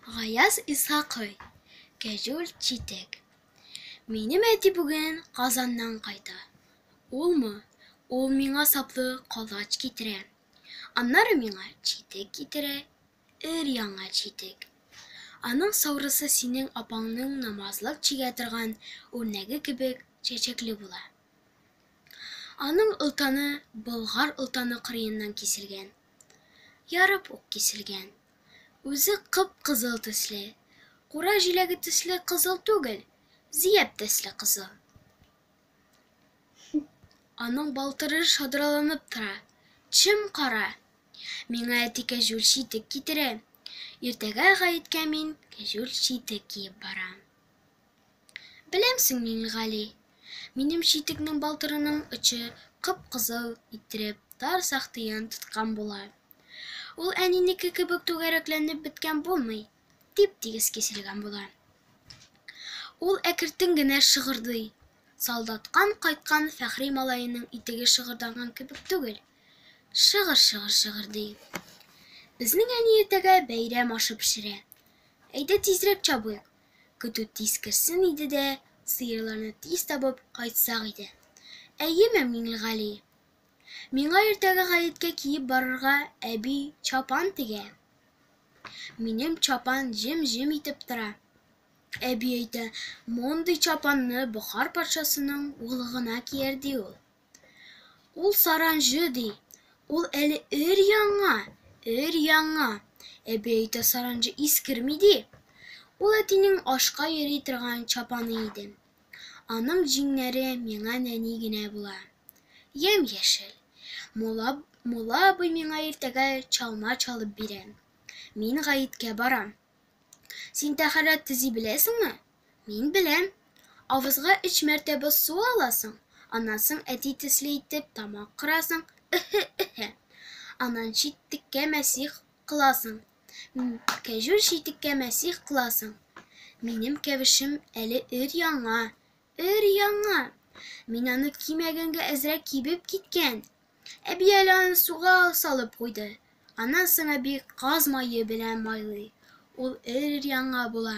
Гаяз Исхакый, Кәҗүл читек. Минем әти бүген Казаннан кайта. Улмы? Ул миңа саплы колач китерә. Аннары миңа читек китерә, өр-яңа читек. Аның саурысы синең апаңның намазлык чигә торган үрнәге кебек чәчәкле була. Аның олтаны Болгар олтаны кырыеннан киселгән. ярып ук киселгән. Үзе кып-кызыл төсле, кура җиләге төсле кызыл түгел, зияб төсле кызыл. Аның балтыры шадраланып тора, чем-кара. Миңа әти кәҗүл читек китерә. Иртәгә гаеткә мин кәҗүл читек киеп барам. Беләмсең, Миңлегали, минем читекнең балтырының очы кып-кызыл иттереп тар сахтыен тоткан була. Ул әнинеке кебек түгәрәкләнеп беткән булмый, тип-тигез киселгән була. Ул әкертен генә шыгырдый. Солдаттан кайткан Фәхри малаеның итеге шыгырданган кебек түгел, шыгыр-шыгыр шыгырдый. Безнең әни иртәгә бәйрәм ашы пешерә. Әйдә тизрәк чабыйк, Көтү тиз керсен иде дә, сыерларны тиз табып кайтсак иде. Әйеме, Миңлегали? Миңа иртәгә гаеткә киеп барырга әби чапан тегә. Минем чапан җем-җем итеп тора. Әби әйтә, мондый чапанны Бохар патшасының улы гына кияр, ди ул. Ул саранҗы ди. Ул әле өр-яңа, өр-яңа. Әби әйтә, саранҗы искерми ди. Ул әтинең ашка йөри торган чапаны иде. Аның җиңнәре миңа нәни генә була. Ямь-яшел. Мулла, мулла абый миңа иртәгә чалма чалып бирә. Мин гаеткә барам. Син тәһарәт төзи беләсеңме? Мин беләм. Авызга өч мәртәбә су аласың, аннан соң әти төсле итеп тамак кырасың, ыһы-ыһы. Аннан читеккә мәсих кыласың. Кәҗүл читеккә мәсих кыласың. Минем кәвешем әле өр-яңа, өр-яңа. Мин аны кимәгәнгә әзрәк кибеп киткән. Әби әле аны суга салып куйды. Аннан соң әби каз мае белән майлый. Ул өр-яңа була.